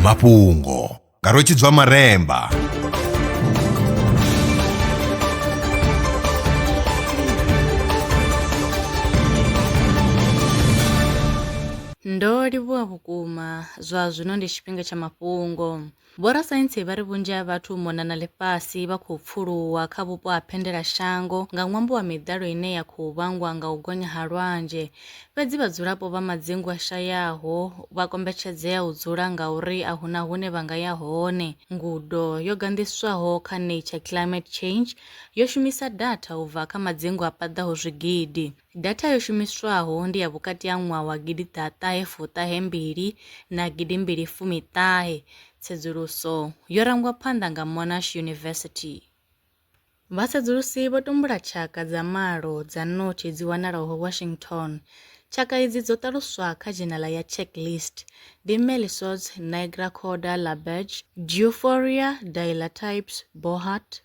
mafhungo nga rwetshidzwa maremba ndo livhuwa vhukuma zwa zwino ndi tshifhinga tsha mafhungo Vhorasaintsi vha ri vhunzhi ha vhathu u mona na ḽifhasi vha khou pfuluwa kha vhupo ha phendelashango nga ṅwambo wa miḓalo ine ya khou vhangwa nga u gonya ha lwanzhe. Fhedzi vhadzulapo vha madzingu a shayaho vha kombetshedzea u dzula ngauri a hu na hune vha nga ya hone. Ngudo yo ganḓiswaho kha Nature Climate Change yo shumisa datha u bva kha madzingu a paḓaho zwigidi. Data yo shumiswaho ndi ya vhukati ha ṅwaha wa gidi ḓa ṱahe fuṱahe mbili na gidi mbili fumi ṱahe, tsedzuluso yo rangwa phanḓa nga Monash University. Vhasedzulusi vho tumbula tshaka dza malo dza ṋotshi dzi wanalaho Washington. Tshaka idzi dzo ṱaluswa kha dzhenala ya checklist, ndi Melisots, Nigra Corda, Laberge, Giuforia, Dilatypes, Bohart,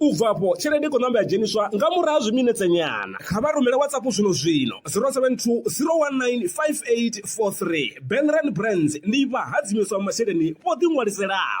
u bva afho tshelede i kho namba ya dzheniswa nga murahu ha zwiminetse nyana kha vha rumele whatsapp zwino zwino 072 019 5843 benran brands ndi vha hadzimiswa masheleni vho ḓi ṅwaliselaho